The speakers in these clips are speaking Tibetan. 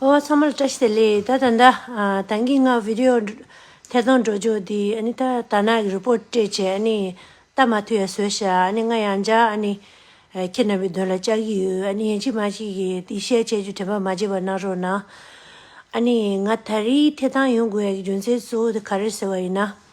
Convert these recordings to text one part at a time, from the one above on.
ཨོ་ཚང་མ་ལ་བཀྲ་ཤིས་བདེ་ལེགས་ད་ད་ད་དང་གིས་ང་བི་དེ་ཨོ་ཐད་གཏོང་འགྲོ་འཇུག་དེ་ཨ་ནི་ད་ད་ནག་གི་རུ་པོ་ཏྲེ་བཅས་ཨ་ནི་ད་མ་ཐུ་ཡ་བཟོས་ཤ་ཨ་ནི་ང་ཡང་འཇག་ཨ་ནི་ཁྱེད་རྣམ་པའི་དོན་ལ་ལྕག་གི་ཡོད་ཨ་ནི་ཡན་ཅིག་མ་ཅིག་གིས་དེ་བཤད་ཅེས་རྒྱུ་དྲན་པ་མ་བརྗེད་པ་གནང་རོགས་གནང་ཨ་ནི་ང་ད་རིའི་ཐད་གཏང་ཡོང་དགོས་ཡ་གི་རྒྱུ་མཚན་གཙོ་བོ་དེ་ག་རེད་ཟེར་བ་ཡིན་ན།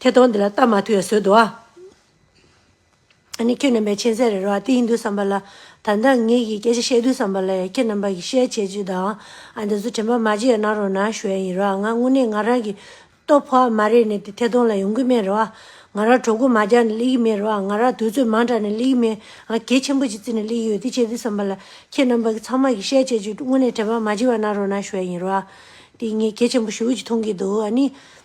ཁྱེད་དོན་འདི་ལ་ལྟ་མ་ཐུབ་ཡ་སོད་དོ། ཨ་ནི་ཁྱེད་རྣམ་པའི་མཁྱེན་བརྩེ་རེ་རོ་ཨ་དེ་ཡིན་དུས་བསམ་པ་ལ། ད་ལྟ་ངེད་ཀྱིས་སྐད་ཆ་བཤད་དུས་བསམ་པ་ལ་ཡ་ཁྱེད་རྣམ་པ་ཀྱི་བཤད་བྱེད་ཅིག་དང་ཨ་འདི་ཚོ་དྲན་པ་མ་བརྗེད་ཡ་གནང་རོགས་གནང་ཞུ་ཡ་ཡིན་རོ་ཨ་ང་དངོས་གནས་ང་རང་གི་སྟོབས་ཕོ་ཨ་མ་རེད་ནས་དེ་ཐད་གཏོང་ལ་ཡོང་གི་མེད་རོ་ཨ། ང་རང་གྲོགས་མགོ་མ་རྒྱག་ནས་སླེབས་ཀྱི་མེད་རོ་ཨ་ང་རང་དུས་ཚོད་མང་དྲགས་ནས་སླེབས་ཀྱི་མེད་ཨ་ང་གལ་ཆེན་པོ་ཅིག་བརྩིས་ནས་སླེབས་ཀྱི་ཡོད་དེ་བྱས་དུས་བསམ་པ་ལ་ཁྱེད་རྣམ་པ་ཀྱི་ཚང་མ་ཀྱི་བཤད་བྱེད་ཅིག་དངོས་གནས་དྲན་པ་མ་བརྗེད་པ་གནང་རོགས་གནང་ཞུ་ཡ་ཡིན་རོ་ཨ། དེ་ངས་གལ་ཆེན་པོ་ཞུ་གི་མཐོང་གི་འདུག་ཨ་ནི།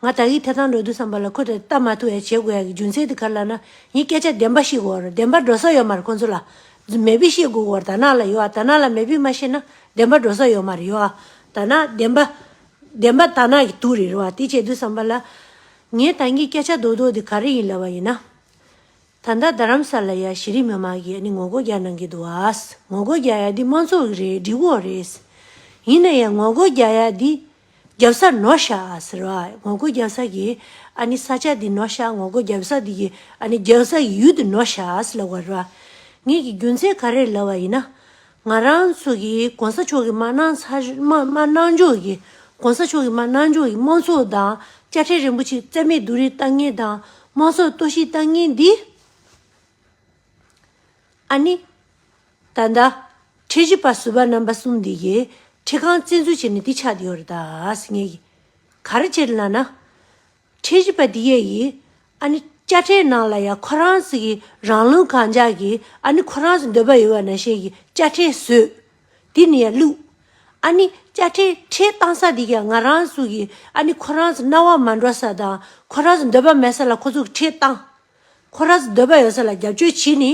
ང་ད་ཡིད་ཐེ་ཚང་འགྲོ་འདུག་བསམ་པ་ལ་ཁོ་དེ་ལྟ་མ་ཐུབ་ཡ་བྱེད་དགོས་ཡ་གི་རྒྱུ་མཚན་དེ་ག་ལ་ན་ཡིན་སྐད་ཆ་བདེན་པ་ཤིག་གོ་བདེན་པ་འགྲོ་ས་ཡོད་མ་རེད་ཁོ་ཚོ་ལ་མེད་པི་ཤེས་དགོས་གོ་ད་ནག་ལ་ཡོད་ད་ནག་ལ་མེད་པི་མ་ཤེས་ན་བདེན་པ་འགྲོ་ས་ཡོད་མ་རེད་ཡོད་ད་ནག་བདེན་པ་བདེན་པ་ད་ནག་གི་དུག་རེད་རེད་བ་དེ་བྱེད་འདུག་བསམ་པ་ལ་ངའི་ད་ངའི་སྐད་ཆ་རྡོག་རྡོག་དེ་ག་རེ་ཡིན་ལབ་བ་ཡིན་ན། ད་ལྟ་རྡ་རམ་ས་ལ་ཡ་གཞི་རིམ་མི་དམངས་ཀྱི་ཡ་ནི་ངོ་རྒོལ་རྒྱག་གནང་གི་འདུག་བ་ངོ་རྒོལ་རྒྱག་ཡ་འདི་དམངས་གཙོ་རེད་སྒྲིག་འོག་རེད། ཡིན་ན་ཡང་ངོ་རྒོལ་རྒྱག་ཡ་འདི་རྒྱབ་སར་ནོ་ཤ་ཨ་ཟེར་བ་ངོ་རྒོལ་རྒྱབ་སར་གྱི་ཨ་ནི་ས་ཆ་འདི་ནོ་ཤ་ངོ་རྒོལ་རྒྱབ་སར་འདི་གྱི་ཨ་ནི་རྒྱབ་སར་གྱི་ཡུལ་འདི་ནོ་ཤ་ཨ་ཟེར་ལབ་བར་བ། ངེད་ཀྱིས་རྒྱུ་མཚན་ག་རེ་ལབ་བ་ཡིན་ན། ང་རང་ཚོ་གིས་གོང་ས་མཆོག་གི་མ་གནང་ཚ་མ་གནང་འཇོག་གིས་གོང་ས་མཆོག་གི་མ་གནང་འཇོག་གིས་དམངས་ཚོགས་དང་དཔྱ་ཁྲལ་རིན་པོ་ཆེ་བརྩད་མེད་བསྡུ་རིས་བཏང་ངེས་དང་དམངས་ཚོགས་གཏོར་བཤིག་བཏང་ངེས་འདི། ཨ་ནི། ད་ལྟ། ཁྲི་བཞི་པ་ཟུར་པ་རྣམ་པ་གསུམ་འདི་ཡིས་ཁྲི་ཁང་བཙན་འཛུལ་བྱས་ནས་འདི་ཆགས་དེ་ཡོད་རེད་དཱ། ངས་ཡིན། ག་རེ་བྱས་རེད་ལགས་ན། ཁྲི་བཞི་པ་འདི་ཡས་ཡིས། ཨ་ནི། དཔྱ་ཁྲལ་ནང་ལ་ཡང་ཁོ་རང་ཚོ་གིས་རང་ལུས་གང་འཇགས་ཀྱིས་ཨ་ནི་ཁོ་རང་ཚོ་འདོད་པ་ཡོད་པ་ན་ཞེས་ཀྱིས་དཔྱ་ཁྲལ་བཟོས། དེ་ནས་ཡང་བླུགས། ཨ་ནི། དཔྱ་ཁྲལ་ཁྲལ་བཏང་ས་འདི་ཀྱང་ང་རང་ཚོ་གིས་ཨ་ནི་ཁོ་རང་ཚོ་རྣ་བ་མ་འགྲོ་ས་དང་ཁོ་རང་ཚོ་འདོད་པ་མེད་ས་ལ་ཁོ་ཚོ་གིས་ཁྲལ་བཏང། ཁོ་ར་འདོད་པ་ཡོད་ས་ལ་རྒྱབ་སྐྱོར་བྱེད་ནི།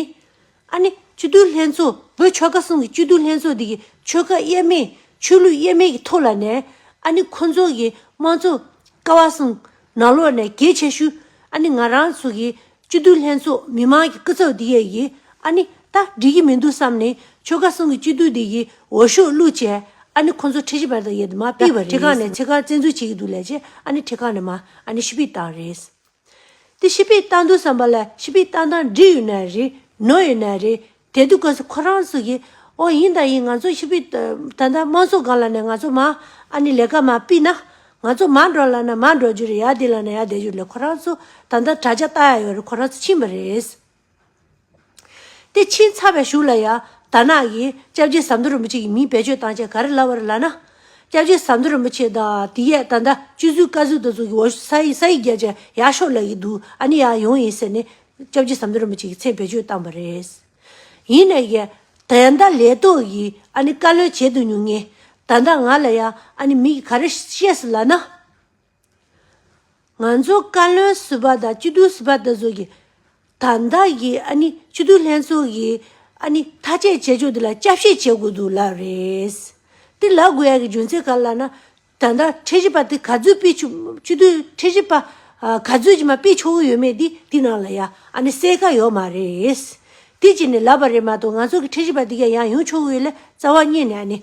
ཨ་ནི་སྤྱི་བསྡུས་ལྷན་ཚོགས་བོད་ཆོལ་ཁ་གསུམ་གྱི་སྤྱི་བསྡུས་ལྷན་ཚོགས་འདི་གི་ཆོལ་ཁ་དབྱེར་མེད་ཆོས་ལུགས་དབྱེར་མེད་ཀྱི་ཐོག་ལ་ནས་ཨ་ནི་ཁོ་ཚོ་གི་དམངས་གཙོ་ཀ་བ་གསུམ་ནག་ལོག་ནས་གྱེས་ཆེ་ཤུ་ཨ་ནི་ང་རང་ཚོ་གི་སྤྱི་བསྡུས་ལྷན་ཚོགས་མི་དམངས་ཀྱི་སྐུ་ཚབ་འདི་ཡས་གི་ཨ་ནི་ད་འགྲིག་གི་མི་འདུག་བསམ་ནས་ཆོལ་ཁ་གསུམ་གི་སྤྱི་བསྡུས་འདི་གི་འོ་ཤོག་བླུག་བྱས་ཨ་ནི་ཁོ་ཚོ་ཁྲི་ཆེ་བར་དང་ཡས་དུ་མ་སྤིས་བ་རེད་ཨ་ནི་ཁྲི་ཁག་ནས་ཁྲི་ཁག་བཙན་འཛུལ་བྱེད་ཀྱི་འདུག་ལས་བྱེད་ཨ་ནི་ཁྲི་ཁག་ནས་མ་ཨ་ནི་ཤི་སྤིས་བཏང་རེད། དེ་ཤི་པའི་རྟགས་འདུག་བསམ་པ་ལ་ཤི་པའི་རྟགས་དང་འབྲི་ཡོད་ན་རེད་ནོར་ཡོད་ན་རེད་དེ་འདུག་གལ་སྲིད་ཁོ་རང་ཚོ་གིས་ཨོ་ཡིན་ད་ཡིན་ང་ཚོ་ཤི་པའི་ད་ལྟ་དམངས་གཙོ་སྒང་ལ་ནས་ང་ཚོ་མ་ཨ་ནི་ལས་ཀ་མ་སྤིས་ན་ང་ཚོ་མ་འགྲོ་ལ་ན་མ་འགྲོ་རྒྱུ་རེད་ཡ་དེ་ལ་ན་ཡ་བསྡད་རྒྱུ་རེད་ལས་ཁོ་རང་ཚོ་ད་ལྟ་དྲ་རྒྱ་བལྟ་ཡ་ཡོད་རེད་ཁོ་རང་ཚོ་ཕྱིན་པ་རེད། དེ་ཕྱིན་ཚར་བའི་ཞུགས་ལ་ཡང་དར་ནག་གིས་སྐྱབས་རྗེ་ཟམ་གདོང་རིན་པོ་ཆེ་ཡི་མིང་བེད་སྤྱོད་བཏང་ཆེད་ག་རེ་ལབ་བར་ལབ་ན། སྐྱབས་རྗེ་ཟམ་གདོང་རིན་པོ་ཆེ་དང་དེ་ཡས་ད་ལྟ་སྤྱི་གཟུགས་བཀའ་ཟུར་དུ་ཟུག་གི་འོ་ས་ཡིག་བརྒྱབ་ཅིང་ཡར་ཤོག་ལབ་ཡི་འདུག་ཨ་ནི་ཡང་ཡོང་ཡིན་ཟེར་ནས་སྐྱབས་རྗེ་ཟམ་གདོང་རིན་པོ་ཆེ་ཡི་མཚན་བེད་སྤྱོད་བཏང་བ་རེད། ཡིན་ནས་ཀྱི། ད་ལྟ་ལས་ཐོག་གིས་ཨ་ནི་བཀའ་བློན་བྱེད་དུ་མྱོང་ངེས། ད་ལྟ་ང་ལ་ཡང་ཨ་ནི་མིག་གི་ག་རེ་བཤད་སྲིད་ལབ་ན། ང་ཚོ་བཀའ་བློན་ཟུར་པ་དང་སྤྱི་འཐུས་ཟུར་པ་དེ་ཚོ་གིས་ད་ལྟ་གི་ཨ་ནི་སྤྱི་འཐུས་ལྷན་ཚོགས་ཀྱི་ཨ་ནི་ཐ་དཔྱད་བྱེད་ཕྱོགས་དེ་ལ་དཔྱད་ཞིབ་བྱེད་དགོས་འདུག་ལབ་རེད། དེ་ལབ་དགོས་ཡ་གི་རྒྱུ་མཚན་ག་ལ་ལབ་ན། ད་ལྟ་ཁྲལ་ཞིབ་པ་དེ་ག་ཚོད་སྤེལ་ཆུག་སྤྱི་འཐུས་ཁྲལ་ཞིབ་པ་ག་ཚོད་ཀྱིས་མ་སྤེལ་ཆོག་གི་ཡོད་མེད་དེ་དེ་ནང་ལ་ཡ་ཨ་ནི་གསལ་ཁ་ཡོད་མ་རེད། དེ་བྱས་ནས་ལབ་པ་རེད་མ་གཏོགས་ང་ཚོ་གི་ཁྲལ་ཞིབ་པ་དེ་ག་ཡང་ཡོང་ཆོག་གི་ཡོད་ལ་རྩ་བ་བསྙེས་ནས་ཨ་ནི་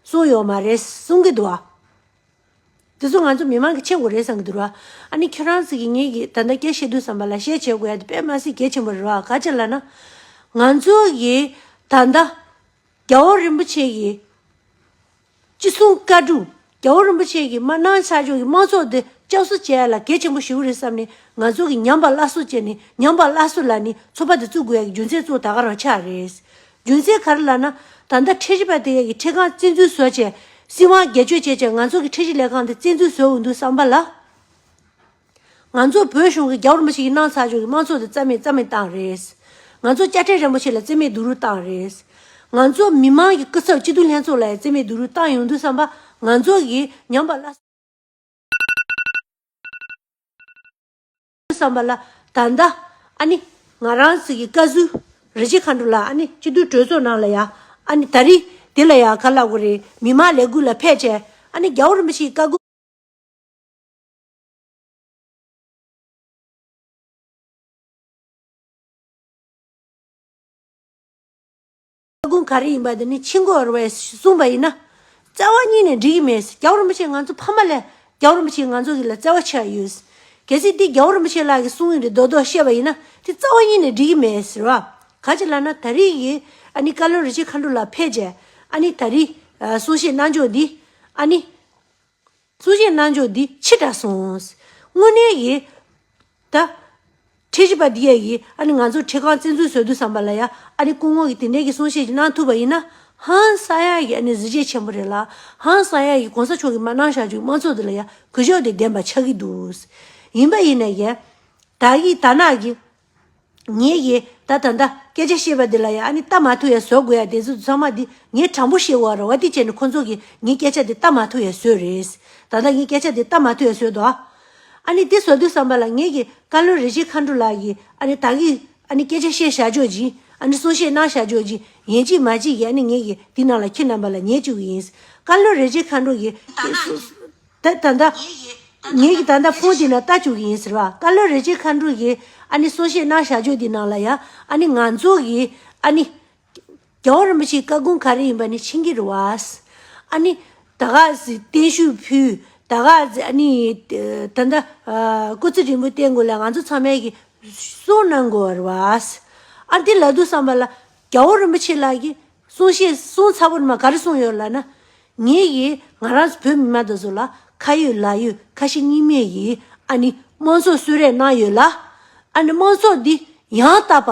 གསུངས་ཡོད་མ་རེད་གསུངས་གི་འདུག་དེ་ཚོ་ང་ཚོ་མི་མང་གི་ཆེད་དགོས་རེད་བསམ་གི་འདུག་ར། ཨ་ནི་ཁྱོད་རང་ཚོ་གིས་ངེད་ཀྱིས་ད་ལྟ་སྐད་བཤད་དུས་བསམ་པ་ལ་བཤད་བྱེད་དགོས་ཡ་དེ་དཔེ་མ་ཟད་གལ་ཆེན་པོ་རེད་བ་ག་ཅེ་ལ་ན། ང་ཚོ་གིས་ད་ལྟ། རྒྱ་བོད་རིན་པོ་ཆེ་གི། ཅི་གསུང་བཀའ་དྲུག་རྒྱ་བོད་རིན་པོ་ཆེ་གི་མ་གནང་ཆ་ཆོག་གི་མང་ཚོགས་འདི་ལྕགས་བཟོ་བྱེད་ཡ་ལ་གལ་ཆེན་པོ་ཞིག་རེད་བསམ་ནས་ང་ཚོ་གིས་ཉམས་པ་སླ་སོ་བྱས་ནས་ཉམས་པ་སླ་སོ་ལ་ནི་ཚོ་པ་འདི་བཙུགས་དགོས་ཡ་གི་རྒྱུ་མཚན་ཚོ་ད་ག་རང་ཆགས་རེད། རྒྱུ་མཚན་ག་རེ་ལགས་ན། ད་ལྟ་ཁྲལ་གཞི་པ་དེ་ག་གི་ཁྲལ་ཁང་བཙན་འཛུལ་བཟོ་བྱས། སྲིད་དབང་སྒེར་གཅོད་བྱས་ཀྱང་ང་ཚོ་གི་ཁྲལ་གཞི་ལས་ཁང་དེ་བཙན་འཛུལ་བཟོ་འོས་འདུག་བསམ་པ་ལ། ང་ཚོ་བོད་གཞུང་གི་རྒྱ་བོར་མི་ཞིག་ཡིན་སྣང་ཚར་བྱུང་གི་དམངས་ཚོགས་དེ་རྩ་མེད་རྩ་མེད་བཏང་རེད། ང་ཚོ་དཔྱ་ཁྲལ་རན་པོ་ཆེ་ལ་རྩིས་མེད་སྡུག་རུས་བཏང་རེད། ང་ཚོ་མི་དམངས་ཀྱི་སྐུ་ཚབ་སྤྱི་འཐུས་ལྷན་ཚོགས་ལ་ཡང་རྩིས་མེད་སྡུག་རུས་བཏང་ཡོང་འདུག་བསམ་པ་ང་ཚོ་གི་ཉམས་པ་སླ། བསམ་པ་ལ། ད་ལྟ། ཨ་ནི། ང་རང་ཚིག་གི་བཀའ་ཟུར། རི་རྗེ་མཁའ་འགྲོ་ལ་ཨ་ནི་སྤྱི་འཐུས་གྲོས་ཚོགས་ནང་ལ་ཡ། ཨ་ནི་ད་རི། དེ་ལ་ཡ་ག་བླ་གོ་རེ། མི་མང་ལས་འགུལ་ལ་ཕེད་བྱས། ཨ་ནི་རྒྱ་བོ་རིན་པོ་ཆེའི་བཀའ། ལྟ་སྒོམ་ག་རེ་ཡིན་པ་འདི་ནི་ཕྱི་འགོ་བར་བས་གསུངས་པ་ཡིན་ན། བརྩེ་བ་གཉིས་ནས་འགྲིག་གི་མེད། རྒྱ་བོ་རིན་པོ་ཆེ་ང་ཚོ་ཕ་མ་ལས་རྒྱ་བོ་རིན་པོ་ཆེ་ང་ཚོ་གི་ལ་བརྩེ་བ་ཆེ་བ་ཡོད། གལ་སྲིད་འདི་རྒྱ་བོ་རིན་པོ་ཆེ་ལགས་ཀྱི་གསུང་ཡིན་རེད་རྡོག་རྡོག་བཤད་པ་ཡིན་ན་དེ་རྩ་བ་གཉིས་ནས་འགྲིག་གི་མེད་ཟེར་བ། ག་ཅི་ལ་ན་ད་རིས་ཀྱི་ཨ་ནི་བཀའ་བློན་རི་ཆེ་མཁའ་འགྲོ་ལགས་ཕེབས་རྗེས་ཨ་ནི་ད་རིས་གསུང་བཤད་གནང་ཕྱོགས་འདི་ཨ་ནི། གཙོ་བྱས་རྣལ་འབྱོར་འདི་ཕྱིར་དྲག་སོང། དངོས་གནས་ཡིན། ད། ཁྲེ་ཞི་པ་འདི་ཡ་ཡིས་ཨ་ནི་ང་ཚོར་ཁྲེ་ཁང་བཙན་འཛུལ་བཟོས་འདུག་བསམ་པ་ལ་ཡ་ཨ་ནི་སྐུ་ངོ་གིས་དེ་འདྲའི་གི་གསུང་བཤད་ཅིག་གནང་ཐུབ་པ་ཡིན་ན། ཧང་སང་ཡ་ཡིས་ཨ་ནི་གཟི་བརྗེད་ཆེན་པོ་རེད་ལ། ཧང་སང་ཡ་ཡིས་གོང་ས་མཆོག་གིས་མ་གནང་བཞག་ཅིག་དམངས་གཙོ་འདི་ལ་ཡ་གུས་ཕྱོགས་དེ་བདེན་པ་ཆགས་ཀི་འདུག། ཡིན་པ་ཡིན་ན་ཡ། ད་ཡིས་དར་ནག་གི། ངེད་ཀྱིས་ད་ད་ལྟ་སྐད་ཆ་བཤད་པ་འདི་ལ་ཡང་ཨ་ནི་ལྟ་མ་ཐུབ་ཡ་བཟོ་དགོས་ཡ་དེ་ཚོ་ཚང་མ་འདི་ངས་དྲང་པོ་བཤད་འོ་ར་བ་འདི་བྱས་ནས་ཁོ་ཚོ་གིས་ངའི་སྐད་ཆ་འདི་ལྟ་མ་ཐུབ་ཡ་བཟོས་རེད། ད་ལྟ་ངའི་སྐད་ཆ་འདི་ལྟ་མ་ཐུབ་ཡ་བཟོས་འདུག་ཨ། ཨ་ནི་འདི་བཟོ་དུས་བསམ་པ་ལ་ངེད་ཀྱིས་བཀའ་བློན་རེ་ཆེ་མཁའ་འགྲོ་ལགས་ཀྱིས་ཨ་ནི་ད་གིས་ཨ་ནི་སྐད་ཆ་བཤད་བཞག་ཆོག་ཅིང་ཨ་ནི་གསུང་བཤད་གནང་བཞག་ཆོག་ཅིང་ཡན་ཅིག་མ་ཅིག་གིས་ཨ་ནི་ངེད་ཀྱིས་འདི་གནང་ལ་ཁྱེད་རྣམ་པ་ལ་ཉེས་བཅུག་གི་ཡིན། བཀའ་བློན་རེ་ཆེ་མཁའ་འགྲོ་གིས། ད་ད་ད། ངེད་ཀྱིས་ད་ལྟ་ཁོང་དེ་ན་ལྟ་བཅུག་གི་ཡིན་ཟེར་བ་བཀའ་བློན་རེ་ཆེ་མཁའ་འགྲོ་ཡིས་ཨ་ནི་གསུང་བཤད་གནང་བཞག་བརྗོད་འདི་ནང་ལ་ཡ་ཨ་ནི་ང་ཚོ་གིས་ཨ་ནི། རྒྱལ་བ་རིན་པོ་ཆེའི་བཀའ་དགོངས་ག་རེ་ཡིན་པ་ནི་ཕྱིན་གྱི་རུ་བས། ཨ་ནི། ད་ག་ཟི་བརྟན་བཞུགས་ཕུལ་ད་ག་ཟི་ཨ་ནི། ད་ད། སྐུ་ཚེ་རིང་པོ་བརྟན་དགོས་ལ་ང་ཚོ་ཚང་མས་ཀྱིས་གསུང་གནང་དགོས་བ་རུ་བས། ཨ་དེ་ལ་དུ་བསམ་པ་ལ་རྒྱལ་བ་རིན་པོ་ཆེ་ལགས་ཀྱིས་གསུང་བཤད་གསུང་ཚ་བོ་ནི་མ་ག་རེ་གསུང་ཡོད་ལ་ན། ངེད་ཀྱིས་ང་རང་བོད་མི་མ་དོ་ཚོ་ལ་ཁ་ཡོད་ལག་ཡོད་ཁ་ཞེ་གཉིས་མེད་ཀྱིས་ཨ་ནི་དམངས་ཚོགས་གསོད་རེས་གནང་ཡོད་ལ། ཨ་ནི་དམངས་ཚོགས་འདི་ཡང་དག་པ་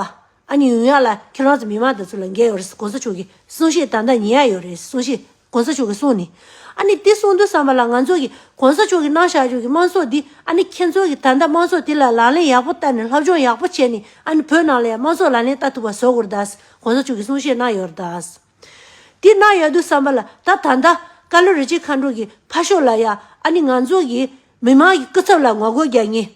ཨ་ནི་ཡོང་ཡག་ལ་ཁྱེད་རང་ཚོ་མི་མང་དོ་ཚོ་ལ་འགན་ཡོད་རེད་ཟེར་གོང་ས་མཆོག་གིས་གསུང་བཤད་ད་ལྟ་ཉན་ཡག་ཡོད་རེད་ཟེར་གསུང་བཤད་གོང་ས་མཆོག་གི་གསུང་ནི། ཨ་ནི་འདི་གསུང་འདོད་བསམ་པ་ལ་ང་ཚོ་གིས་གོང་ས་མཆོག་གིས་གནང་བཞག་རྒྱུ་གི་དམངས་ཚོགས་འདི་ཨ་ནི་ཁྱེད་ཚོ་གིས་ད་ལྟ་དམངས་ཚོགས་དེ་ལ་ལག་ལེན་ཡག་པོ་བསྟར་ནས་ལྷབ་སྦྱོང་ཡག་པོ་བྱས་ནས་ཨ་ནི་བོད་ནང་ལ་ཡང་དམངས་ཚོགས་ལག་ལེན་བསྟར་ཐུབ་པ་བཟོ་དགོས་རེད་དཱ། གོང་ས་མཆོག་གིས་གསུང་བཤད་གནང་ཡོད་རེད་དཱ། འདི་གནང་ཡག་འདུག་བསམ་པ་ལ་ད་ད་ལྟ་ཀ་ལོ་རི་ཆེན་མཁའ་འགྲོ་གི་ཕ་ཤོག་ལ་ཡང་ཨ་ནི་ང་ཚོ་གིས་མི་དམངས་ཀྱི་སྐུ་ཚབ་ལ་ངོ་རྒོལ་རྒྱག་ཉེན་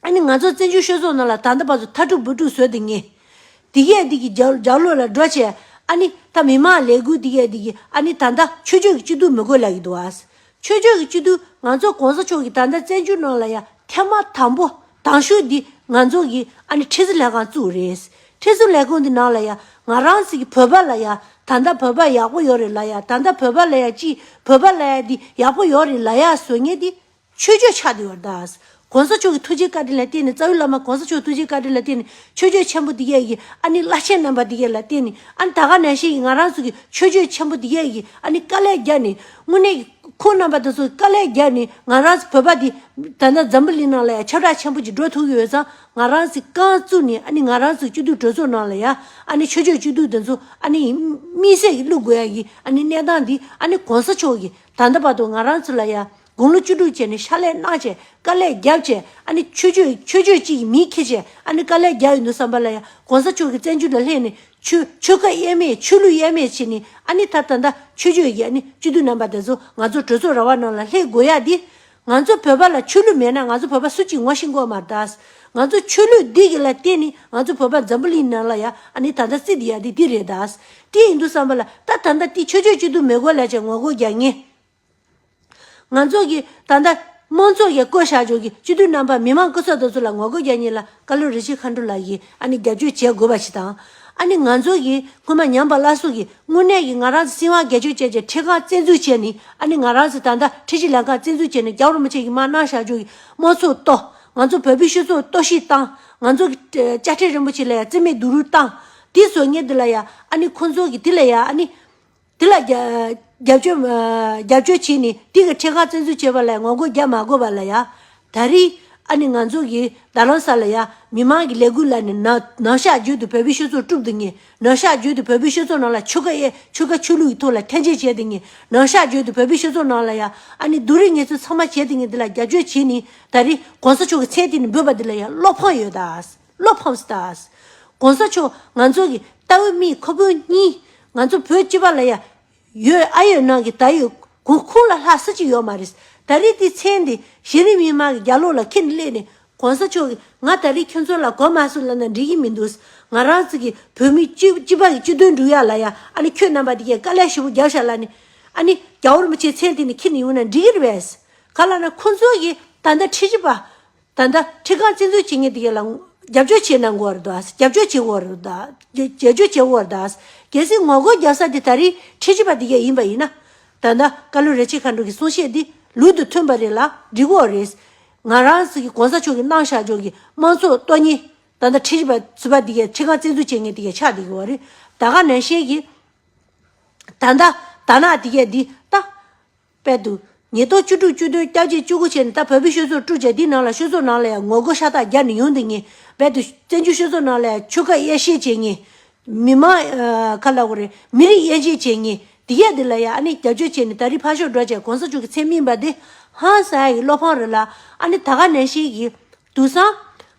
ཨ་ནི་ང་ཚོ་བཙན་བྱོལ་ཤོད་ཚོགས་རྣམས་ལ་ད་ལྟ་བར་དུ་མཐའ་དཀྲུག་འབུད་དཀྲུག་བཟོས་ཏེ་ངེས། འདི་སྐད་སྡིག་གི་ཇག་ཇག་ལོས་ལ་འགྲོ་བྱས། ཨ་ནི་ད་མི་མང་ལས་འགུལ་འདི་སྐད་སྡིག་གི་ཨ་ནི་ད་ལྟ་ཆོས་ཕྱོད་ཀྱི་སྤྱི་འཐུས་མི་དགོས་ལ་གི་འདུག་ཨ། ཆོས་ཕྱོད་ཀྱི་སྤྱི་འཐུས་ང་ཚོ་གོང་ས་མཆོག་གིས་ད་ལྟ་བཙན་བྱོལ་ནང་ལ་ཡང་ཐེངས་མ་དང་པོ་དང་ཤོས་འདི་ང་ཚོ་གི་ཨ་ནི་ཁྲི་ཟུར་ལྷན་ཁང་བཙུགས་རེད། ཁྲི་ཟུར་ལྷན་ཁང་འདི་ནང་ལ་ཡང་ང་རང་ཚིག་གི་བོད་པ་ལ་ཡང་ད་ལྟ་བོད་པ་ཡག་པོ་ཡོད་རེད་ལ་ཡང་ད་ལྟ་བོད་པ་ལ་ཡང་སྤྱི་བོད་པ་ལ་ཡང་འདི་ཡག་པོ་ཡོད་རེད་ལ་ཡང་བཟོ་ངེས་འདི་ཆོས་རྒྱུད་ཆགས་འདི་བར་གདའ། གོང་ས་མཆོག་གི་ཐུགས་རྗེའི་བཀའ་དྲིན་ལ་བརྟེན་ནས་རྩ་བའི་བླ་མ་གོང་ས་མཆོག་གི་ཐུགས་རྗེའི་བཀའ་དྲིན་ལ་བརྟེན་ནས་ཆོས་རྒྱུད་ཆེན་པོ་འདི་སྐད་ཀྱི་ཨ་ནི་བླ་ཆེན་རྣམ་པ་འདི་སྐད་ལ་བརྟེན་ནས་ཨ་ནི་ད་ག་ནས་ཤེས་ཀྱི་ང་རང་ཚོ་གི་ཆོས་རྒྱུད་ཆེན་པོ་འདི་སྐད་ཀྱི་ཨ་ནི་དཀའ་ལས་རྒྱག་ནས་དངོས་གནས་ཀྱི་ཁོང་རྣམ་པ་དེ་ཚོ་གི་དཀའ་ལས་རྒྱག་ནས་ང་རང་ཚོ་བོད་པ་འདི་ད་ལྟ་འཛམ་བུ་གླིང་ནང་ལ་ཡང་ཁྱབ་བསྒྲགས་ཆེན་པོ་ཅིག་འགྲོ་ཐུབ་ཀྱི་ཡོད་ཙང་ང་རང་ཚོས་རྐང་བཙུགས་ནས་ཨ་ནི་ང་རང་ཚོ་སྐྱིད་སྡུག་གྲོས་ཚོགས་ནང་ལ་ཡང་ཨ་ནི་ཆོས་རྒྱུད་སྐྱིད་སྡུག་དེ་ཚོ་ཨ་ནི་དམིགས་བསལ་གྱི་བླུགས་དགོས་ཡ་གྱི་ཨ་ནི་གནས་སྟངས་འདི་ཨ་ནི་གོང་ས་མཆོག་གིས་ད་ལྟ་བར་དུ་ང་རང་ཚོ་ལ་ཡང་དགུང་ལོ་བཅུ་དྲུག་བཅས་ནས་ཤ་ལས་གནག་བཅས་དཀའ་ལས་བརྒྱབ་བཅས་ཨ་ནི་ཆོས་སྤྱོད་ཆོས་སྤྱོད་ཅིག་གིས་མི་ཁེ་བཅས་ཨ་ནི་དཀའ་ལས་བརྒྱབ་ཡོད་འདུག་བསམ་པ་ལ་ཡང་གོང་ས་མཆོག་གིས་བཙན་བྱོལ་ལ་སླེབས་ནས་ཆོས་ཆོས་བཀའ་དབྱེར་མེད་ཆོས་ལུགས་དབྱེར་མེད་བྱས་ནས་ཨ་ནི་ད་ད་ལྟ་ཆོས་སྤྱོད་ཀྱི་ཨ་ནི་སྤྱི་འཐུས་རྣམ་པ་དེ་ཚོ་ང་ཚོ་གྲོས་ཚོགས་ར་བ་ནང་ལ་སླེབས་དགོས་ཡ་འདི། ང་ཚོ་བོད་པ་ལ་ཆོས་ལུགས་མེད་ན་ང་ཚོ་བོད་པ་སུ་གཅིག་ངོ་ཤེས་མགོ་མ་གཏགས། ང་ཚོ་ཆོས་ལུགས་འདི་གི་ལ་བརྟེན་ནས་ང་ཚོ་བོད་པ་འཛམ་བུ་གླིང་ནང་ལ་ཡང་ཨ་ནི་ད་ད་བརྩི་འདི་ཡ་འདི་འདི་རེད་གདའ། ཅི་ཡིན་འདུག་བསམ་པ་ལ་ད་ད་ད་འདི་ཆོས་སྤྱོད་སྤྱི་འཐུས་མེད་དགོས་ལ་བྱས་ངོ་དགོས་རྒྱ་ངེས། ང་ཚོ་གིས་ད་ལྟ་དམངས་གཙོ་ཡི་བཀོད་བཞག་ཅུག་གི་སྤྱི་འཐུས་རྣམ་པ་མི་མང་སྐུ་ཚབ་དོ་ཚོ་ལ་ངོ་རྒོལ་རྒྱ་གཉིས་ལ་བཀའ་བློན་རི་ཆི་ཁ་འདྲུ་ལགས་ཀྱིས་ཨ་ནི་རྒྱབ་སྐྱོར་བྱེད་དགོས་པ་ཞིག་དང། ཨ་ནི་ང་ཚོ་གིས་སྔོན་མ་ཉམས་པ་བླ་སྲོག་གིས་དངོས་གནས་ཀྱི་ང་རང་ཚོ་སྲིད་དབང་སྒེར་སྤྱོད་བྱས་ཀྱི་ཁྲི་ཁང་བཙན་འཛུལ་བྱས་ནི་ཨ་ནི་ང་རང་ཚོ་ད་ལྟ་ཁྲི་ཆི་ལན་ཁང་བཙན་འཛུལ་བྱས་ནི་རྒྱ་བོར་མི་ཆེ་གི་མ་གནང་བཞག་ཅུག་གི་དམངས་གཙོ་གཏོ། ང་ཚོ་བོད་པའི་ཤུལ་གཙོ་གཏོ་ཞིག་བཏང། ང་ཚོ་གི་དཔྱ་ཁྲལ་རིན་པོ་ཆེ་ལ་ཡང་བརྩི་མེད་སྡུག་རུས་བཏང། དེ་སོ་ངེ་དེ་ལ་ཡང་ཨ་ནི་ཁོང་ཚོ་གིས་དེ་ལ་ཡང་ཨ་ནི། དེ་ལ་རྒྱབ་སྐྱོར་བྱས་ནས་དེ་གི་ཁྲེ་ཁག་བཙན་འཛུལ་བྱས་པ་ལ་ངོ་རྒོལ་རྒྱག་མ་དགོས་པ་ལ་ཡ། ད་རིས་ཨ་ནི་ང་ཚོ་གི་ད་ལོན་ས་ལ་ཡ། མི་མང་གི་ལས་འགུལ་ལ་ནི་ནག་ནག་ཤག་བརྗོད་དུ་བོད་པོའི་ཤོད་ཚོགས་དཀྲུག་དུ་ངེས། ནག་ཤག་བརྗོད་དུ་བོད་པོའི་ཤོད་ཚོགས་ནང་ལ་ཆོལ་ཁ་ཡ་ཆོལ་ཁ་ཆོས་ལུགས་ཀྱི་ཐོག་ལ་ཐན་ཅན་བྱས་དུ་ངེས། ནག་ཤག་བརྗོད་དུ་བོད་པོའི་ཤོད་ཚོགས་ནང་ལ་ཡ། ཨ་ནི་བསྡུ་རིས་ངེས་ཚོད་ཚང་མ་བྱས་དུ་ངེས་དེ་ལ་རྒྱབ་སྐྱོར་བྱས་ནས་ད་རིས ྋགོང་ས་མཆོག་གི་མཚན་དེ་ནི་འབོད་པ་འདི་ལ་ཡ་བློ་ཕངས་ཡོད་ད། བློ་ཕམ་སྟྭཱས། གོང་ས་མཆོག་ང་ཚོ་གི་ཏྭ་བོད་མིའི་ཁོ་བོས་གཉིས་ང་ཚོ་བོད་སྤྱི་པ་ལ་ཡ་ཡོད་ཨ་ཡོད་ནང་གི་ད་ཡོད་གོང་ཁུངས་ལ་ལྷག་ས་ཅིག་ཡོད་མ་རེད་ད་རེས་དེ་ཚེ་འདི་གཞི་རིམ་མི་མང་གི་རྒྱ་ལོ་ལ་ཁྱེད་སླེབས་ནས་གོང་ས་མཆོག་གི་ང་ད་རེས་ཁྱོད་ཚོ་ལ་གོ་མ་སོང་ལབ་ན་འགྲིག་གི་མི་འདུག་ང་རང་ཚོ་གི་བོད་མི་སྤྱི་སྤྱི་པ་གི་སྤྱི་དོན་འགྲུག་ཡ་ལ་ཡ་ཨ་ནི་ཁྱོད་རྣམ་པ་དེ་གས་དཀའ་ལས་ཞེ་བོ་རྒྱབ་ཤ་ལ་ནི་ཨ་ནི་རྒྱ་བོར་མི་བྱེད་ཚེ་འདི་ནི་ཁྱེད་ནི་ཡོང་ན་འགྲིག་གི་རེད་བས་ག་ལ་ན་ཁོང་ཚོ་གི་ད་ཟླ་ཁྲི་བཞི་པ་ད་ལྟ་ཁྲི་ཀང་བཙན་འཛུལ་བྱེད་ངེས་དགེ་ལ་རྒྱབ་སྐྱོར་བྱེད་ན་མགོ་བར་ཟློག་ཨཱས་རྒྱབ་སྐྱོར་བྱེད་མགོ་བར་ཟློག་ཨཱས་རྒྱབ་སྐྱོར་བྱེད་མགོ་བར་ཟློག་ཨཱས་གལ་སྲིད་ངོ་རྒོལ་རྒྱག་ས་དེ་ད་རིང་ཁྲི་ཆེ་པ་དེ་ག་ཡིན་པ་ཡིན་ན། ད་ལྟ་བཀའ་བློན་རེ་ཆེ་མཁའ་འགྲོ་གི་གསུང་བཤད་འདི་ལུག་ཏུ་མཐུན་པ་རེད་ལ་འགྲིག་འོག་རེད། ང་རང་སི་གི་གོང་ས་མཆོག་གི་གནང་བཞག་ལྗོངས་ཀི་དམངས་གཙོ་གཏོ་ཉིན་ད་ལྟ་ཁྲི་ཆེ་པ་ཟུར་པ་དེ་ག་ཁྲི་ཀང་བཙན་འཛུལ་བྱེད་ངེས་དེ་ག་ཆགས་དེ་གི་བར་རིང་ད་ག་ནན་ཤན་གི་ད་ལྟ་དར་ནག་དེ་ག་འདི་ལྟ། པའི་འདུག་ཉིས་སྟོང་བཅུ་དྲུག་བཅུ་དོན་བསྐྱར་བཅས་བཅུ་དགུ་ཆེད་ནས་ད་བོད་པའི་ཤོད་ཚོགས་དཀྲུགས་བྱས་དེའི་ནང་ལ་ཤོད་ཚོགས་ནང་ལ་ཡང་ངོ་རྒོལ་ཤ་སྟག་རྒྱག་ནས་ཡོང་འདུག་ངེས་པའི་འདུག་བཙན་བྱོལ་ཤོད་ཚོགས་ནང་ལ་ཡང་ཆོལ་ཁ་དབྱེ་བཤེས་བྱེད་ངེས། མི་མང། ཁ་ལ་ཧོ་རེ། མི་རིགས་དབྱེ་འབྱེད་བྱེད་ངེས། དེ་གས་འདི་ལ་ཡང་ཨ་ནི་རྒྱབ་སྐྱོར་བྱེད་ནས་ད་རི་ཕ་ཤོག་སྒྲོག་བྱས་གོང་ས་མཆོག་གི་མཚན་སྨིན་པ་དེ་ཧང་སངས་ཡི་བློ་ཕངས་རེད་ལ་ཨ་ནི་ད་ག་ནས་ཤེས་ཀྱི། དུ་སང།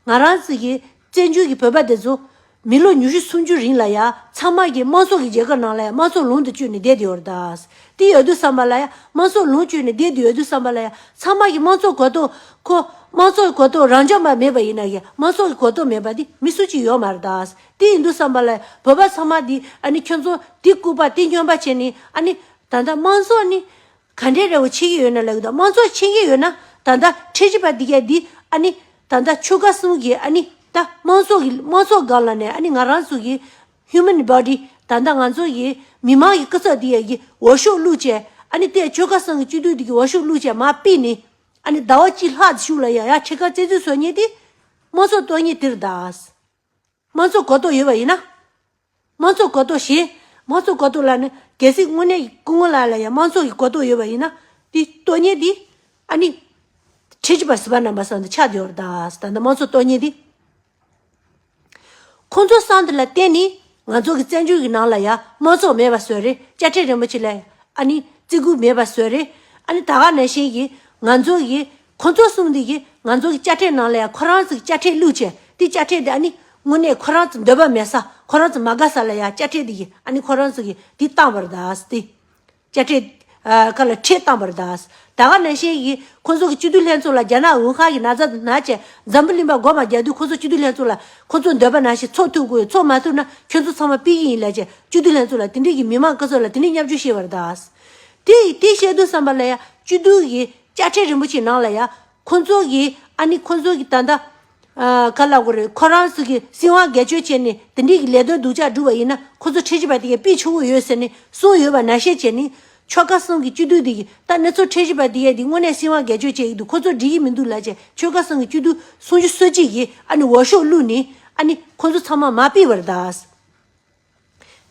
ང་རང་ཚིག་གི། བཙན་བྱོལ་གྱི་བོད་པ་དེ་ཚོ། མི་ལོ་ཉུ་ཤུ་སུམ་ཅུ་རིང་ལ་ཡ་ཚང་མ་གིས་དམངས་སྲོག་གི་རྒྱལ་ཁབ་ནང་ལ་ཡ་དམངས་སྲོག་ལུང་དུ་བཅོས་ནས་བསྡད་དུ་ཡོད་རེད་ད། དེ་ཡོད་དུ་བསམ་པ་ལ་ཡ་དམངས་སྲོག་ལུང་བཅོས་ནས་བསྡད་དུ་ཡོད་དུ་བསམ་པ་ལ་ཡ་ཚང་མ་གིས་དམངས་སྲོག་གོ་རྟོགས་ཁོ། དམངས་སྲོག་གི་གོ་རྟོགས་རང་ཅག་མ་མེད་པ་ཡིན་ན་ཡ་དམངས་སྲོག་གི་གོ་རྟོགས་མེད་པ་དེ་མི་སུ་གཅིག་ཡོད་མ་རེད་ད། དེ་ཡིན་དུ་བསམ་པ་ལ་ཡ་བོད་པ་ཚང་མ་དེ་ཨ་ནི་ཁྱོད་ཚོ་དེ་སྐུར་པ་དེ་སྙོན་པ་བྱས་ནས་ཨ་ནི། ད་ལྟ་དམངས་སྲོག་ནི། ག་འདྲའི་རེ་བ་བྱེད་ཀྱི་ཡོད་ན་ལེགས་དང་མ་འཚོ་ཆེན་གྱི་ཡོད་ན་ད་ལྟ་ཁྲེ་ཆི་པ་འདི་ག་འདི་ཨ་ནི་ད་ལྟ་ཆོལ་ཁ་གསུམ་གྱི་ཨ་ནི་ད་དམངས་ཚོགས་ཀྱི་དམངས་ཚོགས་སྒང་ལ་ནས་ཨ་ནི་ང་རང་ཚོ་གི Human Body ད་ལྟ་ང་ཚོ་གི་མི་དམངས་ཀྱི་སྐུ་ཚབ་འདི་ག་གི་འོ་ཤོག་བླུག་བྱས་ཨ་ནི་ཏེ་ཆོལ་ཁ་གསང་གི་སྤྱི་འཐུས་འདི་གི་འོ་ཤོག་བླུག་བྱས་མ་དཔེ་ནི་ཨ་ནི་ཟླ་བ་གཅིག་ལྷག་འདི་བཞུགས་ལ་ཡ་ཡ་ཁྲེ་ཁ་བཙན་འཛུལ་བཟོ་ཉེ་ཏེ་དམངས་ཚོགས་གཏོར་ཉེ་དིར་གདའ། དམངས་གཙོ་གོ་རྟོགས་ཡོད་པ་ཡིན་ན། དམངས་གཙོ་གོ་རྟོགས་གཞན། དམངས་གཙོ་གོ་རྟོགས་ལ་ནི་གལ་སྲིད་དངོས་གནས་སྐུ་ངོ་ལགས་ལ་ཡང་དམངས་གཙོ་གི་གོ་རྟོགས་ཡོད་པ་ཡིན་ན། དེའི་རྟོགས་ངན་དེ་ཨ་ནི། ཁྲི་ཆུ་བར་སྲིད་པ་རྣམས་པ་སང་འདི་ཆགས་བསྡད་བར་གདའ། ད་ལྟ་དམངས་གཙོ་རྟོགས་ངན་དེ། ཁོང་ཚོ་སང་འདི་ལ་བརྟེན་ནས་ང་ཚོ་གི་བཙན་བྱོལ་གི་ནང་ལ་ཡང་དམངས་གཙོ་མེད་པ་བཟོས་རེད་བཅའ་ཁྲིམས་རིན་པོ་ཆེ་ལ་ཡང་ཨ་ནི་བརྩི་བཀུར་མེད་པ་བཟོས་རེད་ཨ་ནི་ད་ག་ནས་བཞིན་གྱི་ང་ཚོ་གི་ཁོ་ཚོ་གསུངས་འདུག་གི་ང་ཚོ་གི་དཔྱ་ཁྲལ་ནང་ལ་ཡང་ཁོ་རང་ཚོ་གི་དཔྱ་ཁྲལ་བླུག་ཆེད་དེ་དཔྱ་ཁྲལ་དེ་ཨ་ནི་དངོས་གནས་ཁོ་རང་ཚོ་འདོད་པ་མེད་ས་ཁོ་རང་ཚོ་མ་དགའ་ས་ལ་ཡང་དཔྱ་ཁྲལ་དེ་གི་ཨ་ནི་ཁོ་རང་ཚོ་གི་དེ་བཏང་བར་གདའ་ས་དེ། དཔྱ་ཁྲལ། ཁ་ལ་ཁྲལ་བཏང་བར་གདའ་ས་ད་ག་ནང་བཞིན་གི་ཁོ་ཚོ་གི་སྤྱི་འཐུས་ལྷན་ཚོགས་ལ་རྒྱ་ནག་དབུས་ཁག་གི་ན་བཟའ་དང་ན་བཅས་འཛམ་བུ་གླིང་པ་མགོ་མ་རྒྱག་དུས་ཁོ་ཚོ་སྤྱི་འཐུས་ལྷན་ཚོགས་ལ་ཁོ་ཚོ་འདོད་པ་ནང་བཞིན་ཚོགས་ཐུབ་དགོས་ཚོགས་མ་ཐུབ་ན་ཁྱོད་ཚོ་ཚང་མ་སྤེལ་གྱི་ཡིན་ལས་བྱེད་སྤྱི་འཐུས་ལྷན་ཚོགས་ལ་དེ་འདྲས་གི་མི་མང་སྐུ་ཚོགས་ལ་དེ་འདྲས་སྙབ་ཆུ་བཤད་བར་གདའ་ས་དེ་དེ་བཤད་དུས་བསམ་པ་ལ་ཡང་སྤྱི་འཐུས་གི་བཅའ་ཁྲིམས་རིན་པོ་ཆེ་ནང་ལ་ཡ། ཁོ་ཚོ་གིས་ཨ་ནི་ཁོ་ཚོ་གིས་ད་ལྟ། ག་ལ་དགོས་རེད་ཁོ་རང་ཚོ་གིས་སྲིད་དབང་སྒེར་གཅོད་བྱས་ནས་དེ་འདྲིའི་གི་ལས་དོན་སྡུག་ཅག་བསྒྲུབས་པ་ཡིན་ན་ཁོ་ཚོ་ཁྲེལ་གཞི་པ་དེ་གའི་པི་ཆུ་བོ་ཡོད་ཟེར་ནས་གསུངས་ཡོད་པ་ནག་བཤད་བྱས་ནི། ཆོལ་ཁ་གསུམ་གི་བཅུད་བསྡུས་དེ་གི་ད་གནས་ཚོ་ཁྲེལ་གཞི་པ་དེ་གའི་དེ་དངོས་གནས་སྲིད་དབང་སྒེར་གཅོད་བྱས་ཡིག་དུ་ཁོ་ཚོ་འབྲི་གི་མི་འདུག་ལ་བྱས་ཆོལ་ཁ་གསུམ་གི་བཅུད་བསྡུས་གསུངས་རྒྱུ་གསོལ་ཅིག་གིས་ཨ་ནི་འོ་ཤོག་བླུགས་ནི་ཨ་ནི་ཁོ་ཚོ་ཚང་མ་མ་པི་བར་གདའ།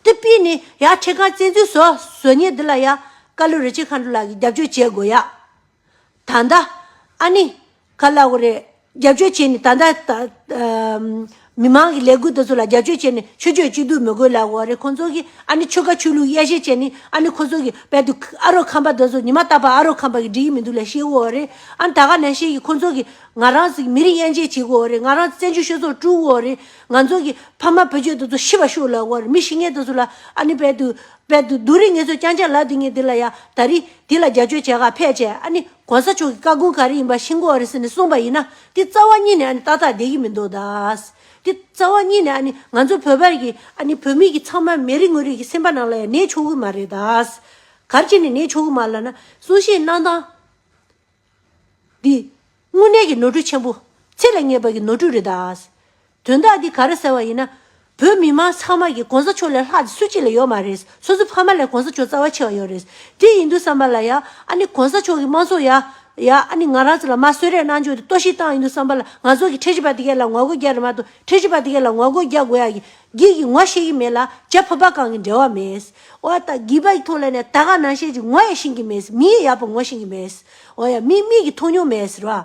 དེ་སྤེལ་ནས་ཡ་ཁྲི་ཁར་བཙན་འཛུལ་བཟོ་བཟོ་ཉེས་འདི་ལ་ཡ་བཀའ་བློན་རི་ཆེན་མཁའ་འགྲོ་ལགས་ཀྱིས་རྒྱབ་སྐྱོར་བྱེད་དགོས་ཡ། ད་ལྟ་ཨ་ནི་ག་ལ་བ་རེད་རྒྱབ་སྐྱོར་བྱེད་ནས་ད་ལྟ་མི་མང་གི་ལས་འགུལ་དེ་ཚོ་ལ་རྒྱབ་སྐྱོར་བྱེད་ནས་ཆོས་ཆོས་གཅིག་སྡུད་མི་དགོས་ལ་བ་རེད་ཁོང་ཚོ་གིས་ཨ་ནི་ཆོལ་ཁ་ཆོས་ལུགས་དབྱེ་ཞེས་བྱས་ནས་ཨ་ནི་ཁོ་ཚོ་གིས་བལ་དུ་ཨ་རོགས་ཁམས་པ་དེ་ཚོ་ཉི་མ་རྟག་པར་ཨ་རོགས་ཁམས་པ་གི་འགྲིག་གི་མི་འདུག་ལ་ཤེས་དགོས་བ་རེད་ཨ་ནི་ད་ག་ནས་ཤེས་ཀྱི་ཁོང་ཚོ་གིས་ང་རང་ཚོ་གི་མི་རིགས་དབྱེ་འབྱེད་བྱེད་དགོས་བ་རེད་ང་རང་ཚོ་བཙན་བྱོལ་ཤོད་ཚོགས་དཀྲུགས་དགོས་བ་རེད། ང་ཚོ་གི་ཕ་མ་བུ་ཆོས་དེ་ཚོ་ཤི་བ་ཤུགས་ལ་བོར་མི་ཤི་ངེས་དེ་ཚོ་ལ་ཨ་ནི་བལ་དུ་བལ་དུ་དུ་རི་ངེས་ཚོ་རྐྱང་ཆ་ལ་དུ་ངེས་དེ་ལ་ཡ་ད་རི་དེ་ལ་རྒྱ་ཆོས་བྱས་ག་ཕས་བྱས་ཨ་ནི་གོང་ས་མཆོག་གི་བཀའ་དགོངས་ག་རི་ཡིན་པ་ཤིན་གོ་རེ་ཟེར་ནས་གསུངས་པ་ཡིན་ན་དེ་རྩ་བ་གཉིས་ནས་ཨ་ནི་ཏག་ཏག་བསྡད་ཀྱི་མི་འདུག་གདའ། དེ་རྩ་བ་གཉིས་ནས་ཨ་ནི་ང་ཚོ་བོད་པར་གྱི་ཨ་ནི་བོད་མི་གྱི་ཚང་མ་མི་རིགས་དངོས་རིགས་ཀྱི་སེམས་པ་ནང་ལ་ཡང་གནས་ཆོག་གི་མ་རེད་གདའ། གར་ཅི་ནས་གནས་ཆོག་གི་མ་ལ་ན་གསུང་བཤད་གནང་སྟངས། འདི། དངོས་གནས་ཀྱི་ནོར་འཁྲུལ་ཆེན་པོ། ཚིག་ལ་ངེས་པ་གི་ནོར་འཁྲུལ་རེད་ད། དོན་དག་འདི་ག་རེ་ཟེར་བ་ཡིན་ན། བོད་མི་མང་ཚང་མ་གི་གོང་ས་མཆོག་ལས་ལྷག་དེ་སུ་གཅིག་ལ་ཡོད་མ་རེད། སོ་སོ་ཕ་མ་ལས་གོང་ས་མཆོག་རྩ་བ་ཆེ་བ་ཡོད་རེད། དེ་ཡིན་དུས་བསམ་པ་ལ་ཡ། ཨ་ནི་གོང་ས་མཆོག་གི་དམངས་གཙོ་ཡ། ཡ། ཨ་ནི་ང་རང་ཚོ་ལ་མ་གསོད་རེས་གནང་བཅུག་དེ་གཏོར་བཤིག་བཏང་ཡིན་དུས་བསམ་པ་ལ་ང་ཚོ་གི་ཁྲལ་བྱེད་པ་དེ་གས་ལ་ངོ་རྒོལ་རྒྱག་རེ་མ་ཏུ་ཁྲལ་བྱེད་པ་དེ་གས་ལ་ངོ་རྒོལ་རྒྱག་དགོས་ཡ་གི། བགེགས་ཀྱི་ངོ་ཤེས་ཀྱི་མེད་ལ་བྱད་ཕོ་བ་གང་གིས་འབྲལ་བ་མེད། འོ་ཡ། བགེགས་པ་ཡི་ཐུགས་ལ་ནི་ད་ག་ན་ཤེས་ཀྱི་ངོ་ཡ་ཤེས་ཀྱི་མེད། མི་ཡི་ཡ་བུ་ངོ་ཤེས་ཀྱི་མེད། འོ་ཡ། མི་མིག་གིས་མཐོང་མྱོང་མེད་ཟེར་བ།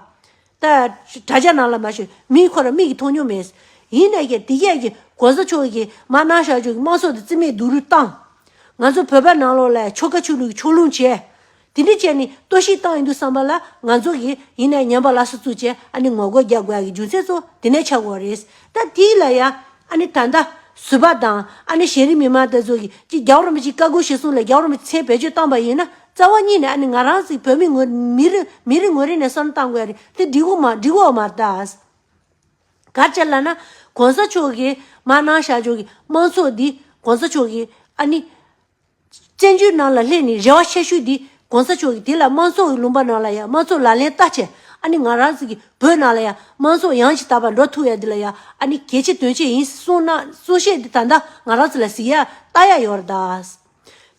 ད་ཡ། དྲ་རྒྱ་ནང་ལ་མ་བྱོན་མིའི་ཁོ་རང་མིག་གིས་མཐོང་མྱོང་མེད། ཡིན་ནས་ཀྱང་དེ་སྐད་ཀྱི་གོ་ས་ཆོག་གི་མ་གནང་ཞག་ཆོག་གི་མ་སོགས་ཏེ་རྩིས་མེད་སྡུག་རུས་བཏང། ང་ཚོ་བོད་པ་ནང་ལོག་ལ་ཆོ་ག་ཆོས་ལུགས་ཀྱི་ཕྱོགས་ལྷུང་བྱས། དེ་འདྲའི་ཅན་ནི་ལྟོས་ཤིག་བཏང་ཡིན་འདུག་བསམ་པ་ལ་ང་ཚོ་གིས་ཡིན་ནའི་ཉམས་པ་ལ་སོ་བཙུགས་ཅན་ཨ་ནི་ངོ་རྒོལ་རྒྱག་དགོས་ཡ་གི་རྒྱུ་མཚན་ཚོ་དེ་ནས་ཆགས་དགོས་རེད། ད་དེའི་ལ་ཡ་ཨ་ནི་ད་ལྟ་བཟོད་པ་དང་ཨ་ནི་གཞན་རིགས་མི་མང་དེ་ཚོ་གིས་ཅིག་རྒྱ་བོར་མི་ཅིག་བཀའ་བསྒོས་ཞེས་གསུངས་ལ་རྒྱ་བོར་མི་ཚེ་བེད་སྤྱོད་བཏང་པ་ཡིན་ན་རྩ་བ་གཉིས་ནས་ཨ་ནི་ང་རང་ཚིག་བོད་མི་ངོ་མི་རི་མི་རི་ངོ་རི་ནས་སོར་བཏང་དགོས་ཡ་རེད་དེ་འགྲིག་འོ་མ་འགྲིག་འོ་མ་ད་གར་ཆ་ལ་ན་གོང་ས་མཆོག་གིས་མ་གནང་བཞག་ཆོག་གི་དམངས་ཚོགས་འདི་གོང་ས་མཆོག་གིས་ཨ་ནི། བཙན་བྱོལ་ནང་ལ་སླེབས་ནས་རེ་བ་ཆེ་ཤོས་དེ་གོང་ས་མཆོག་གིས་དེ་ལ་དམངས་གཙོ་ཡི་ལུང་པ་ནང་ལ་ཡང་དམངས་གཙོ་ལག་ལེན་བསྟར་ཆེད་ཨ་ནི་ང་རང་གི་བོད་ནང་ལ་ཡང་དམངས་གཙོ་ཡང་ཅིག་དར་བར་འགྲོ་ཐུབ་ཡ་འདི་ལ་ཡང་ཨ་ནི་གལ་ཆེ་དོན་ཆེ་ཡིན་གསུང་གནང་གསུང་བཤད་འདི་ད་ལྟ་ང་རང་ཚོ་ལ་གཟིགས་ཡ་ལྟ་ཡ་ཡོད་ར་ད་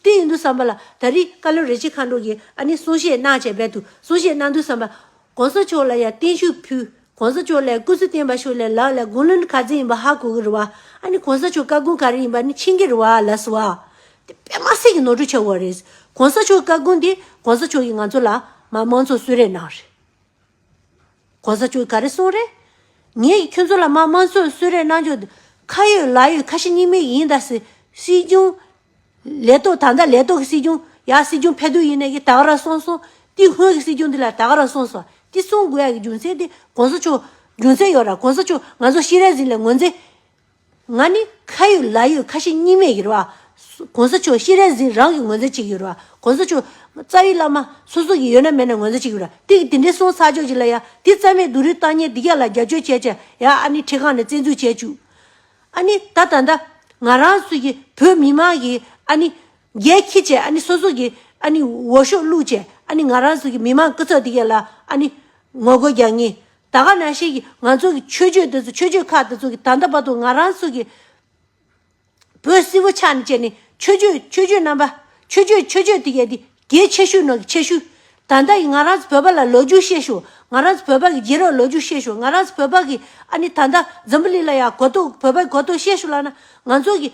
དེ་ཡིན་དུས་བསམ་པ་ལ་ད་རིས་བཀའ་བློན་རེ་ཆེ་མཁའ་འགྲོ་གིས་ཨ་ནི་གསུང་བཤད་གནང་ཆེད་རྦད་དུ་གསུང་བཤད་གནང་དུས་བསམ་པ། གོང་ས་མཆོག་ལ་ཡང་བརྟན་བཞུགས་ཕུལ། གོང་ས་མཆོག་ལས་སྐུ་ཚེ་བརྟན་པ་ཞུ་ལས་ལགས་ལ་དགུང་ལོ་ནི་ག་ཚད་ཡིན་པ་ཧ་གོ་གི་རུ་བ་ཨ་ནི་གོང་ས་མཆོག་བཀའ་དགོངས་ག་རེ་ཡིན་པ་ནི་ཕྱིན་གི་རུ་བ་ཨ་ལགས་སུ་བ། དེ་པད་མ་སྲས་ཀྱི་ནོར་འཁྲུལ་ཆེ་བ་རེད། གོང་ས་མཆོག་བཀའ་དགོངས་དེ་གོང་ས་མཆོག་གིས་ང་ཚོ་ལ་མ་མང་ཚོགས་གསོལ་རས་གནང་རེད། གོང་ས་མཆོག་གིས་ག་རེ་གསུངས་རེད། ངས་ཀྱི་ཁྱོད་ཚོ་ལ་མ་མང་ཚོགས་གསོལ་རས་གནང་རྒྱུ་ཁ་ཡོད་ལག་ཡོད་ཁ་ཞེ་གཉིས་མེད་ཀྱི་ཡིན་ད་སྲིད་སྐྱོང་ལས་ཐོག་ད་ལྟ་ལས་ཐོག་གི་སྲིད་སྐྱོང་ཡ་སྲིད་སྐྱོང་ཕད་དུ་ཡིན་ནའི་གི་ད་ག་ར་སོང་སོང་ཏི་སྔོན་གི་སྲིད་སྐྱོང་འདི་ལ་ད་ག་ར་སོང་སོང་ཏི་གསུང་དགོས་ཡ་གི་རྒྱུ་མཚན་ཏི་གོང་ས་མཆོག་རྒྱུ་མཚན་ཡོད་ར་གོང་ས་མཆོག་ང་ཚོ་ཤི་རལ་ཟིན་ལས་ངོ་མཚན། ང་ནི་ཁ་ཡོད་ལག་ཡོད་ཁ་ཞེ་གཉིས་མེད་ཡོད་ར་བ། གོང་ས་མཆོག་ཤི་རལ་ཟིན་རང་གི་ངོ་མཚན་གཅིག་ཡོད་ར་བ་གོང་ས་མཆོག་རྩ་བའི་བླ་མ་སོ་སོ་གི་ཡོད་ན་མེད་ན་ངོ་མཚན་གཅིག་ཡོད་ར་ཏི་གི་དེ་འདྲའི་སོང་ཚར་ཆོག་ཅིག་ལ་ཡ་ཏི་རྩ་མེད་སྡུག་རུས་བཏང་ཉེས་འདི་ག་ལ་རྒྱབ་སྐྱོར་བྱས་བྱས་ཡ་ཨ་ནི་ཁྲི་ཁང་ནས་བཙན་འཛུལ་བྱས་བཅུག། ཨ་ནི་ད་ད་ད། ང་རང་ཚོ་ཡི་བོད་མི་དམངས་ཀྱི་ཨ་ནི། རྒྱལ་ཁྱི་བཅས་ཨ་ནི་སོ་སོ་ཀྱི་ཨ་ནི་འོ་ཤོག་བླུག་བཅས་ཨ་ནི་ང་རང་ཚོ་ཡི་མི་དམངས་སྐུ་ཚབ་དེ་ག་ལ་ཨ་ནི། ངོ་རྒོལ་རྒྱག་ངེས། ད་ག་ན་ཤེས་ཀྱི་ང་ཚོ་ཀྱི་ཆོས་བརྒྱུད་དེ་ཚོ་ཆོས་བརྒྱུད་ཁག་དེ་ཚོ་ཀྱི་ད་ད་བར་དུ་ང་རང་ཚོ་ཀྱི། བོད་སིལ་བུ་ཕྱག་ནས་བཅད་ནས་ཆོས་བརྒྱུད་ཆོས་བརྒྱུད་རྣམ་པ། ཆོས་བརྒྱུད་ཆོས་བརྒྱུད་དེ་ག་དེ་གྱི་ཆེ་ཤོས་ནང་གི་ཆེ་ཤོས། ད་ལྟ་ཡི་ང་རང་ཚོ་བོད་པ་ལ་ལོ་རྒྱུས་ཤེས་ཤོག་ང་རང་ཚོ་བོད་པ་གི་རྗེས་རོགས་ལོ་རྒྱུས་ཤེས་ཤོག་ང་རང་ཚོ་བོད་པ་གི་ཨ་ནི་ད་ལྟ་འཛམ་བུ་གླིང་ལ་ཡ་གོ་རྟོགས་བོད་པ་གོ་རྟོགས་ཤེས་ཤོག་ལགས་ན་ང་ཚོ་གི།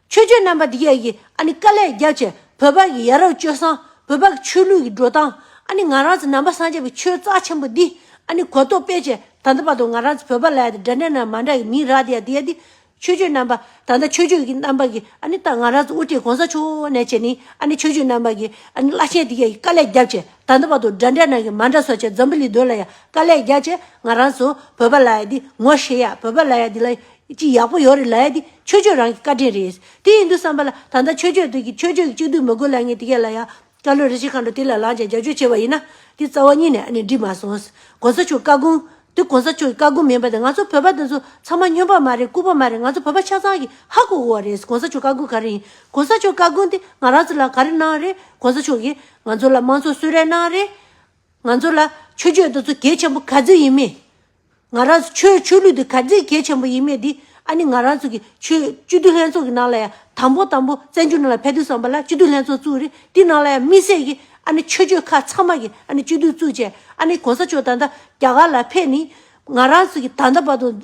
ཆོས་རྒྱུད་རྣམ་པ་འདི་ག་གི་ཨ་ནི་དཀའ་ལས་རྒྱག་ཆེད་བོད་པ་གི་ཡ་རབས་སྤྱོད་བཟང་བོད་པ་གི་ཆོས་ལུགས་གི་འགྲོ་སྟངས་ཨ་ནི་ང་རང་ཚོ་ནང་པ་སངས་རྒྱས་པའི་ཆོས་རྩ་ཆེན་པོ་འདི་ཨ་ནི་གོ་རྟོགས་སྤེལ་ཆེད་ད་ལྟ་བར་དུ་ང་རང་ཚོ་བོད་པ་ལ་ཡ་དེ་འདྲ་འདྲ་ན་མ་འདྲ་གི་མིང་རག་དེ་ཡ་དེ་ཡ་དེ་ཆོས་བརྒྱུད་རྣམ་པ་ད་ལྟ་ཆོས་བརྒྱུད་ཀྱི་རྣམ་པ་གྱི་ཨ་ནི་ད་ང་རང་དབུ་ཁྲིད་གོང་ས་མཆོག་འོ་ནས་བྱས་ནི་ཨ་ནི་ཆོས་བརྒྱུད་རྣམ་པ་གྱི་ཨ་ནི་བླ་ཆེན་དེ་ག་ཡི་དཀའ་ལས་རྒྱབ་ཆེ་ད་ལྟ་བར་དུ་འདྲ་འདྲ་ནང་གི་མ་འདྲ་སོ་ཆེ་འཛམ་བུ་ལི་སྡོད་ལ་ཡང་དཀའ་ལས་རྒྱག་ཆེ་ང་རང་ཚོ་བོད་པ་ལ་ཡ་འདི་ངོ་ཤེས་ཡ་བོད་པ་ལ་ཡ་འདི་ལ་ཅི་ཡག་པོ་ཡོད་རེད་ལ་ཡ་འདི་ཆོས་བརྒྱུད་རང་གི་བཀའ་དྲིན་རེད་དེ་ཡིན་དུས་བསམ་པ་ལ་ད་ལྟ་ཆོས་བརྒྱུད་དུས་ཀྱི་ཆོས་བརྒྱུད་ཀྱི་གཅིག་བསྡུས་མི་དགོས་ལ་ངས་དེ་ག་ལ་ཡ། སྐྲ་ལོའི་རི་ཆེན་མཁའ་འགྲོ་དེ་ལ་ལངས་ཀྱང་རྒྱབ་ཆོས་བྱས་པ་ཡིན་ན། དེ་རྩ་བ་གཉིས་ནས་ནི་འགྲིག་མ་སོང། གོང་ས་མཆོག་བཀའ་དགོངས། དེ་གོང་ས་མཆོག་གི་བཀའ་དགོངས་མིན་པ་དང་ང་ཚོ་བོད་པ་དེ་ཚོ་ཚང་མ་སྨྱོན་པ་མ་རེད་རྐུ་བ་མ་རེད་ང་ཚོ་བོད་པ་ཆ་ཚང་གིས་ཧ་གོ་དགོས་བ་རེད་གོང་ས་མཆོག་བཀའ་དགོངས་ག་རེ་ཡིན་གོང་ས་མཆོག་བཀའ་དགོངས་དེ་ང་རང་ཚོ་ལ་ག་རེ་གནང་རེད་གོང་ས་མཆོག་གིས་ང་ཚོ་ལ་དམངས་གཙོ་གསོལ་རས་གནང་རེད། ང་ཚོ་ལ་ཆོས་བརྒྱུད་དེ་ཚོ་གལ་ཆེན་པོ་ག་ཚོད་ཡིན་མིན། ང་རང་ཚོ་ཆོས་ཆོས་ལུགས་དེ་ག་ཚད་གལ་ཆེན་པོ་ཡིན་མེད་དེ་ཨ་ནི་ང་རང་ཚོ་གི་ཆོས་སྤྱི་འཐུས་ལྷན་ཚོགས་ཀྱི་ནང་ལ་ཡང་དང་པོ་དང་པོ་བཙན་བྱོལ་ནང་ལ་ཕེབས་དུས་བསམ་པ་ལ་སྤྱི་འཐུས་ལྷན་ཚོགས་བཙུགས་རེད་དེ་ནང་ལ་ཡང་དམིགས་བསལ་གྱི་ཨ་ནི་ཆོས་ཆོས་ཁག་ཚང་མ་གི་ཨ་ནི་སྤྱི་འཐུས་བཙུགས་རྗེས་ཨ་ནི་གོང་ས་མཆོག་ད་ལྟ་རྒྱ་གར་ལ་ཕེབས་ནས་ང་རང་ཚོ་གི་ད་ལྟ་བར་དུ།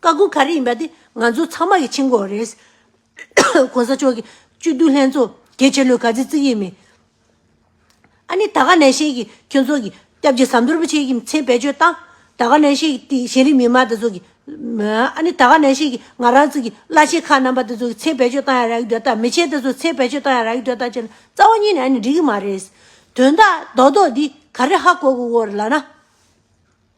བཀའ་བསྒོ་ག་རེ་ཡིན་པ་དེ་ང་ཚོ་ཚང་མ་གི་འཆིང་བསྒོ་བ་རེད། གོང་ས་མཆོག་གི་བཅུད་བསྡུ་ལྷན་ཚོགས་གལ་ཆེ་ལོས་ག་ཚི་བརྩི་གི་མིན། ཨ་ནི་ད་ག་ནས་ཤེས་ཀི་ཁྱོད་ཚོ་གི་སྐྱབས་རྗེ་ཟམ་གདོལ་པོ་ཆེ་གི་མཚན་བེད་སྤྱོད་བཏང། ད་ག་ནས་ཤེས་ཀི་དེ་གཞན་རིགས་མི་དམངས་དེ་ཚོ་གི། ཨ་ནི་ད་ག་ནས་ཤེས་ཀི་ང་རང་ཚོ་གི་བླ་ཆེན་ཁག་རྣམ་པ་དེ་ཚོ་གི་མཚན་བེད་སྤྱོད་བཏང་ཡ་རག་གི་འདོད་ད་མི་ཆེན་དེ་ཚོ་མཚན་བེད་སྤྱོད་བཏང་ཡ་རག་གི་འདོད་ད་ཅེ་ན་རྩ་བ་ཉིད་ནས་ཨ་ནི་འགྲིག་གི་མ་རེད། དོན་དག་རྡོག་རྡོག་འདི་ག་རེ་ཧ་གོ་གི་འོ་རེ་ལགས་ན།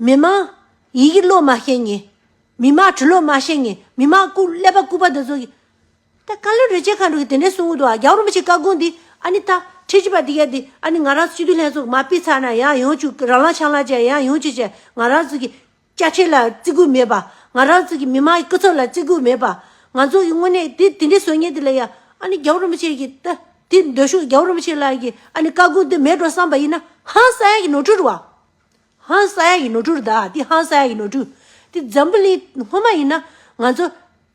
མི་དམངས། ཡི་གེ་ཀློག་མ་ཤེས་ངེས། མི་དམངས་བྲི་ཀློག་མ་ཤེས་ངེས། མི་དམངས་སྐུ། ཀླད་པ་སྐུད་པ་འདི་ཚོ་གི། ད་བཀའ་བློན་རེད་ཅེས་གང་འགྲོ་གི་དེ་འདྲའི་གསུང་འོད་འདུག་ཨ་རྒྱ་རོ་མ་ཆེ་བཀའ་དགོངས་འདི་ཨ་ནི་ད་ཁྲི་གཅིག་པ་འདི་ག་འདི་ཨ་ནི་ང་རང་སྤྱི་འཐུས་ལྷན་ཚོགས་མ་སྤེལ་ཚར་ན་ཡང་ཡོང་བཅུག་རང་ལག་ཆང་ལག་བཅད་ཡང་ཡོང་བཅུག་བཅད་ང་རང་ཚོ་གི། བཅའ་ཁྲིམས་ལ་བརྩི་བཀུར་མེད་པ། ང་རང་ཚོ་གི་མི་དམངས་ཀྱི་སྐུ་ཚབ་ལ་བརྩི་བཀུར་མེད་པ། ང་ཚོ་གི་དངོས་གནས་དེ་དེ་འདྲའི་ཟོལ་ངན་འདི་ལ་ཡང་ཨ་ནི་རྒྱ་བོ་རོ་མ་ཆེ་གི་ད་དེ་འདོད་ཤོག་རྒྱ་བོ་རོ་མ་ཆེ་ལགས་ཀྱི་ཨ་ནི་བཀའ་དགོངས་འདི་མེད་འགྲོ་བསམ་པ་ཡིན་ན་ཧང་སང་ཡག་གི་ནོར་འཁྲུལ་བ་ཧང་སངས་ཀྱི་ནོར་འཁྲུལ་རུ་དྭགས་འདི་ཧང་སངས་ཀྱི་ནོར་འཁྲུལ། འདི་འཛམ་བུ་གླིང་སྔོན་མ་ཡིན་ན་ང་ཚོ་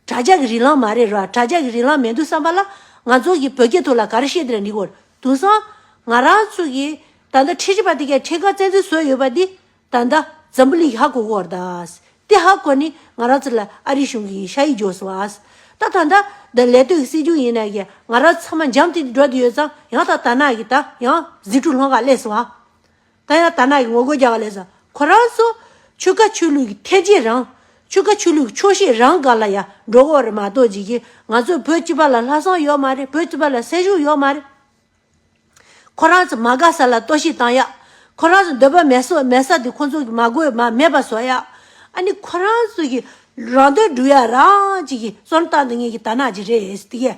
དྲྭ་ཇག་གི་རིན་ལམ་མ་རེད་ར་དྲྭ་ཇག་གི་རིན་ལམ་མེད་འདུག་བསམ་པ་ལ་ང་ཚོ་གི་བོད་སྐད་ཐུག་ལ་ག་རེ་བཤད་འདི་ལ་འདི་གོ་དུང་སང་ང་རང་ཚོ་གི་ད་ལྟ་ཁྲི་ཆེ་བ་དེ་གའི་ཁྲི་ཁ་བཙན་འཛུལ་བཟོས་ཡོད་པ་འདི་ད་ལྟ་འཛམ་བུ་གླིང་གི་ཧ་གོ་གོ་ར་དྭགས་འདི་ཧ་གོ་ནི་ང་རང་ཚོ་ལ་ཨ་རི་གཞུང་གི་ཤ་ཡིག་འཇོག་སོང་ཨ་ད་ད་ད་ད་ལས་སྟོད་ཀྱི་སྲིད་འབྱུང་ཡིན་ན་ཡ་ང་རང་ཚང་མ་འཇམ་ཐིང་དུ་འགྲོ་འདི་ཡོད་ཙང་ཡང་ད་ད་ན་གི་ད་ཡང་ཟིང་འཁྲུག་ལྷོ་ཁ་ཀླད་སོང་ཨ། ད་ཡང་དར་ནག་གི་ངོ་རྒོལ་རྒྱག་པ་ལས་ས་ཁོ་རང་ཚོ་ཆོལ་ཁ་ཆོས་ལུགས་ཀྱི་འཐད་ཇེ་རང། ཆོལ་ཁ་ཆོས་ལུགས་ཀྱི་ཆོག་ཤེས་རང་ག་ལ་ཡ་འགྲོ་གོ་རེ་མ་གཏོགས་ཇི་བཞིན་ང་ཚོ་བོད་སྤྱི་པ་ལ་ལྷ་བསང་ཡོད་མ་རེད་བོད་སྤྱི་པ་ལ་སྲས་ཞུགས་ཡོད་མ་རེད། ཁོ་རང་ཚོ་མ་དགའ་ས་ལ་ལྟོས་ཤིག་བཏང་ཡ། ཁོ་རང་ཚོ་འདོད་པ་མེད་སོ་མེད་ས་དེ་ཁོ་ཚོ་གི་མ་དགོས་མ་མེད་པ་བཟོ་ཡ། ཨ་ནི་ཁོ་རང་ཚོ་གི་རང་དོན་སྒྲུབ་ཡ་རང་ཅིག་གི་སོར་བཏང་དེ་ངེད་ཀྱི་དར་ནག་ཅིག་རེད་དེ་གས།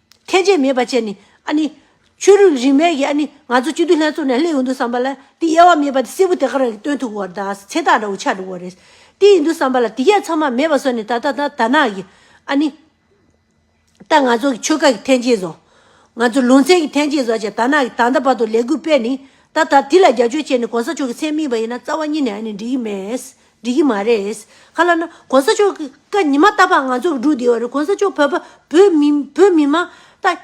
ཁྱད་ཆོས་མེད་པ་བཅས་ནི། ཨ་ནི། ཆོས་རིག་རིས་མེད་ཀྱི་ཨ་ནི། ང་ཚོ་སྤྱི་འཐུས་ལྷན་ཚོགས་ནས་ལྷད་ཡོང་འདུག་བསམ་པ་ལ། དེ་དབྱེ་བ་མེད་པ་དེ་སེར་བུ་དེ་ག་རང་གིས་སྟོན་ཐུབ་བོ་བར་དང་ཚེ་ཐག་འདྲ་བོ་ཆགས་འགྲོ་བོ་རེད། དེ་ཡིན་འདུག་བསམ་པ་ལ་དེ་གས་ཚང་མ་མེད་པ་བཟོ་ནས་ད་ལྟ་ད་ད་ནག་གི། ཨ་ནི། ད་ང་ཚོ་གི་ཆོལ་ཁ་གི་ཐན་སྐྱེད་བཟོ། ང་ཚོ་ལུང་ཚན་གྱི་ཐན་སྐྱེད་བཟོ་བྱས་ད་ནག་གི་ད་ད་བར་དུ་ལས་འགུལ་སྤེལ་ནི། ད་ད་དེ་ལ་རྒྱབ་སྐྱོར་བྱས་ནས་གོང་ས་མཆོག་གི་མཚན་སྨིན་པ་ཡིན་ན་རྩ་བ་གཉིས་ནས་ཨ་ནི་འགྲིག་གི་མེད། འགྲིག་གི་མ་རེད། ག་ལ་ན། གོང་ས་མཆོག་གི་བཀའ་ཉི་མ་ལྟ་བ་ང་ཚོ་འགྲུག་བསྡད་ཡོད་རེད་གོང་ས་མཆོག་བོད་པ་བོད་མི་བོད་མི་མང་ད།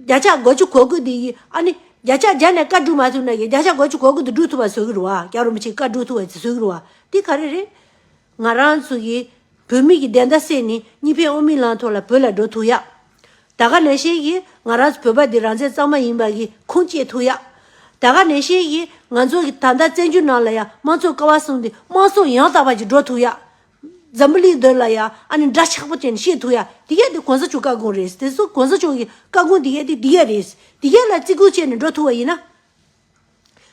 བརྒྱ་ཆ་གོ་བཅུ་གོ་དགུ་འདི་ཡིས་ཨ་ནི་བརྒྱ་ཆ་བརྒྱ་ནས་བཀའ་བསྒྲུབ་མ་ཐུབ་ན་ཡི་བརྒྱ་ཆ་གོ་བཅུ་གོ་དགུ་འདི་བསྒྲུབ་ཐུབ་པ་བཟོ་གི་རུ་བ་རྒྱ་རོ་མི་ཆེ་བཀའ་བསྒྲུབ་ཐུབ་བ་བཟོ་གི་རུ་བ་འདི་ག་རེ་རེད། ང་རང་ཚོ་གི་བོད་མི་གི་བདེན་མཐའ་སེལ་ནི་གཉིས་ཕན་ཨོ་མི་ལང་ཐོག་ལ་བོད་ལ་འགྲོ་ཐུག་ཡག། ད་ག་ནས་ཤེས་ཀྱི་ང་རང་བོད་པ་འདི་རང་བཙན་གཙང་མ་ཡིན་པ་གི་ཁུངས་སྐྱེལ་ཐུག་ཡ། ད་ག་ནས་ཤེས་ཀྱི་ང་ཚོ་གི་ད་ལྟ་བཙན་བྱོལ་ནང་ལ་ཡ་དམངས་གཙོ་ཀ་བ་གསུངས་ཏེ་དམངས་གཙོ་ཡང་དག་པ་ཅིག་འགྲོ་ཐུག་ཡ། འཛམ་བུ་གླིང་འདིར་ལ་ཡ་ཨ་ནི་འདྲ་ཆགས་པོ་ཅན་ཤེས་ཐུག་ཡ་འདི་ག་དེ་གོང་ས་མཆོག་བཀའ་དགོངས་རེད་དེ་སོ་གོང་ས་མཆོག་གི་བཀའ་དགོངས་འདི་ག་དེ་འདི་ག་རེད་འདི་ག་ལ་བརྩི་བཀུར་བྱས་ནས་འགྲོ་ཐུག་བ་ཡིན་ན།